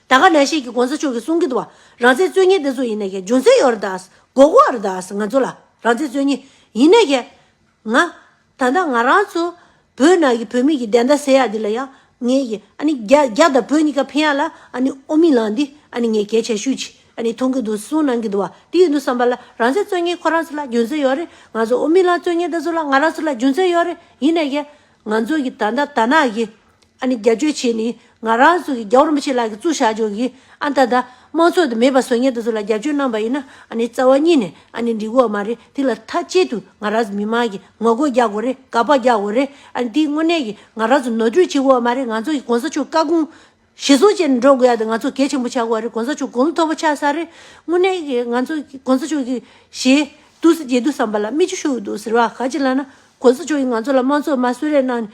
ད་ག་ནས་ཤེས་ཀྱི་གོང་ས་མཆོག་གི་གསུང་གི་དུ་བ་རང་བཙན་རྩོད་ཉེན་དེ་ཚོ་ཡིན་ན་ཀྱི་རྒྱུ་མཚན་ཡོད་ར་དག་གོ་གོ་བ་ར་དག་ང་ཚོ་ལ་རང་བཙན་རྩོད་ཉེན་ཡིན་ན་ཀྱི་ང་ད་ལྟ་ང་རང་ཚོ་བོད་ནང་གི་བོད་མི་གི་བདེན་མཐའ་གསལ་ཡག་འདི་ལ་ཡང་ངས་ཀྱི་ཨ་ནི་རྒྱ་རྒྱ་དང་བོད་གཉིས་ཀ་ཕན་ཡག་ལ་ཨ་ནི་ཨོ་མི་ལགས་འདི་ཨ་ནི་ངས་གལ་ཆེ་ཤོས་ཀྱི་ཨ་ནི་མཐོང་གི་འདུག་གསུངས་གནང་གི་འདུག་བ་འདི་ཡོད་འདུག་བསམ་པ་ལ་རང་ཚེ་རྩོད་ངན་ཁོ་རང་ཚོ་ལ་རྒྱུ་མཚན་ཡོད་རེད་ང་ཚོ་ཨོ་མི་ལགས་རྩོད་ངན་ད་ཚོ་ལ་ང་རང་ཚོ་ལ་རྒྱུ་མཚན་ཡོད་རེད་ཡིན་ན་ཡང་ང་ཚོ་གི་ད་ད་ནག་གི། ཨ་ནི་བརྒྱ་ཆོས་བྱས་ནས་ང་རང་ཚོ་གི་རྒྱ་བོར་མི་ཆེ་ལགས་གི་གཙུག་བཞག་བྱོས་གི་ཨ་མཐའ་དང་དམངས་ཚོགས་དེ་མེད་པ་བཟོ་ཉེ་དུ་ཚོ་ལ་བརྒྱ་ཆོས་གནང་པ་ཡིན་ན་ཨ་ནི་རྩ་བ་གཉིས་ནས་ཨ་ནི་འགྲིག་དགོས་བ་མ་རེད་དེ་ལ་ཐ་ཅད་དུ་ང་རང་ཚོ་མི་དམངས་ཀྱི་ངོ་རྒོལ་རྒྱག་དགོས་རེད་དགག་པ་རྒྱག་དགོས་རེད་ཨ་ནི་དེ་དངོས་གནས་ཀྱི་ང་རང་ཚོ་ནོར་འཁྲུལ་བྱེད་དགོས་བ་མ་རེད་ང་ཚོ་གི་གོང་ས་མཆོག་བཀའ་དགོངས་ཞེ་སོང་བྱས་ནས་འགྲོ་དགོས་ཡ་དེ་ང་ཚོ་གལ་ཆེན་པོ་བྱ་དགོས་བ་རེད་གོང་ས་མཆོག་དགོངས་མཐོ་པོ་ཆགས་ས་རེད་དངོས་གནས་ཀྱི་ང་ཚོ་གི་གོང་ས་མཆོག་གི་ཞེ་དུག་སེ་རྗེ་དུག་བསམ་པ་ལ་སྨིག་རྒྱུ་ཤོར་གི་འདུག་ཟེར་བ་ག་ཅི་ལ་ན་གོང་ས་མཆོག་གི་ང་ཚོ་ལ་དམངས་ཚོགས་དམར་གསོད་རེ་གནང་ནས།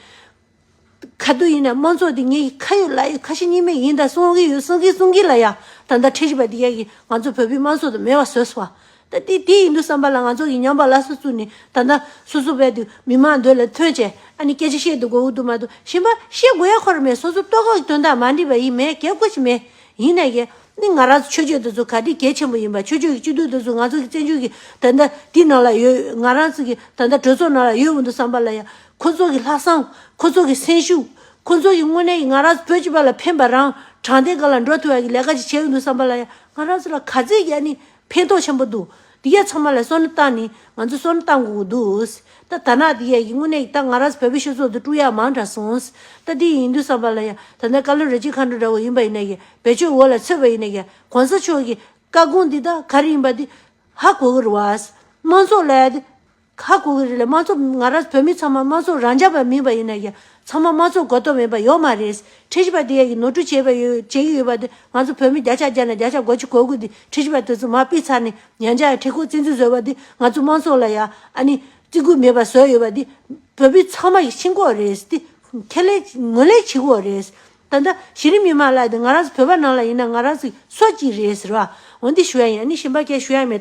ག་དུས་ཡིན་ན་དམངས་ཚོགས་འདི་ངའི་ཁ་ཡོད་ལག་ཡོད་ཁ་ཞེ་གཉིས་མེད་ཡིན་ད་གསུང་གི་ཡོད་གསུང་གི་གསུང་གི་ལ་ཡང་ད་ལྟ་ཁྲེལ་ཞིག་པ་འདི་ཡ་གི་ང་ཚོ་བོད་པའི་དམངས་ཚོགས་དང་མེད་བ་བཟོས་སོང་བ་ད་དེ་དེ་ཡིན་འདུག་བསམ་པ་ལ་ང་ཚོ་ཡི་ཉམས་པ་ལ་སོ་བཙུགས་ནས་ད་ལྟ་སོ་སོ་བས་འདུག་མི་མང་འདོད་ལ་མཐོན་བྱས་ཨ་ནི་སྐད་ཆ་བཤད་འདུག་གོ་འདུག་མ་འདུག་གཞན་པ་བཤད་དགོས་ཡ་ཁོ་ར་མེད་སོ་སོ་ལྟོས་གོ་དོན་དག་མ་འདྲིས་པ་ཡིན་མེད་གལ་དགོས་ཆེ་མེད་ཡིན་ན་གལ་ནི་ང་རང་ཚོ་ཆོས་ཆོས་འདི་ཚོ་ག་དུས་གལ་ཆེན་པོ་ཡིན་པ་ཆོས་ཆོས་ཀྱི་སྤྱི་འཐུས་འདི་ཚོ་ང་ཚོ་གི་བཙན་བྱོལ་གི་ད་ལྟ་འདི་ནང་ལ་ཡོད་ང་རང་ཚོ་གི་ད་ལྟ་གྲོས་ཚོགས་ནང་ལ་ཡོད་འུ་འདུག་བསམ་པ་ལ་ཡང། ཁོ་ཚོ་གི་ལྷག་བསམ། ཁོ་ཚོ་གི་སེམས་ཤུགས། ཁོ་ཚོ་གི་དངོས་གནས་ང་རང་བོད་སྤྱི་པ་ལ་ཕན་པ་རང་དྲང་བདེན་གང་ལ་འགྲོ་ཐུབ་ཡག་གི་ལས་ཀ་ཅིག་བྱས་ཡོད་འདུག་བསམ་པ་ལ་ཡང་ང་རང་ཚོ་ལ་ག་ཚོད་ཡག་ནི་ཕན་ཐོག་ཆེན་པོ་འདུག་འདི་ག་ཚང་མ་ལ་སོ་ན་ཏང་ནི་ང་ཚོ་སོ་ན་ཏང་གོ་གོ་འདུག་ད་ད་ནག་འདི་ག་གི་དངོས་གནས་ཀྱི་ཏང་ང་རང་ཚོ་བལ་པོའི་ཤོད་ཚོགས་འདུ་དཀྲུག་ཡག་མང་དྲག་སོང་ད་འདི་ཡིན་འདུག་བསམ་པ་ལ་ཡང་ད་ནས་བཀའ་བློན་རེ་གཅིག་མཁའ་འགྲོ་འདྲ་བོ་ཡིན་པ་ཡིན་ན་ཡང་བེད་སྤྱོད་འོག་ལ་ཚུད་པ་ཡིན་ན་ཡང་གོང་ས་མཆོག་གི་བཀའ་དགོངས་འདི་དག་ག་རེ་ཡིན་པ་འདི་ཧ་གོ་གོ་རུ་བ། དམངས་ཚོགས་ལ་ཡང་འདི་ཁ་བསྐུར་གི་རེད་ལ་དམངས་གཙོ་ང་རང་བོད་མི་ཚང་མ་དམངས་གཙོ་རང་ཅག་པ་མིན་པ་ཡིན་ན་ཡང་ཚང་མ་དམངས་གཙོ་གོ་ཐོབ་མེད་པ་ཡོད་མ་རེད། ཁྲི་ཞི་པ་དེ་ཡ་གི་ནོར་འཁྲུལ་བྱས་པ་ཡོད་བྱེད་ཀྱི་ཡོད་པ་དེ་ང་ཚོ་བོད་མི་བརྒྱ་ཆ་བརྒྱ་ནས་བརྒྱ་ཆ་གོ་གཅིག་གོ་དགུ་དེ་ཁྲི་ཞི་པ་དེ་ཚོ་མ་སྤིས་ཚར་ནས་ཡང་བསྐྱར་ཡང་ཁྲི་ཁོག་བཙན་འཛུལ་བཟོས་པ་དེ་ང་ཚོ་དམངས་གཙོ་ལ་ཡ་ཨ་ནི་བརྩི་བཀུར་མེད་པ་བཟོས་ཡོད་པ་དེ་བོད་མི་ཚང་མ་ཤིན་ཁོག་རེད་དེ་ཁེ་ལས་ངོས་ལེན་བྱེད་ཁོག་རེད། ད་ལྟ་གཞི་རིམ་མི་དམངས་ལ་དེ་ང་རང་ཚོ་བོད་པ་ནང་ལ་ཡིན་ན་ང་རང་ཚོ་སོ་གཅིག་རེད་ཟེར་བ་འོན་ཏེ་ཞུ་ཡ་ཡིན་ཨ་ནི་ཞིམ་པ་སྐད་ཞུ་ཡ་མེད།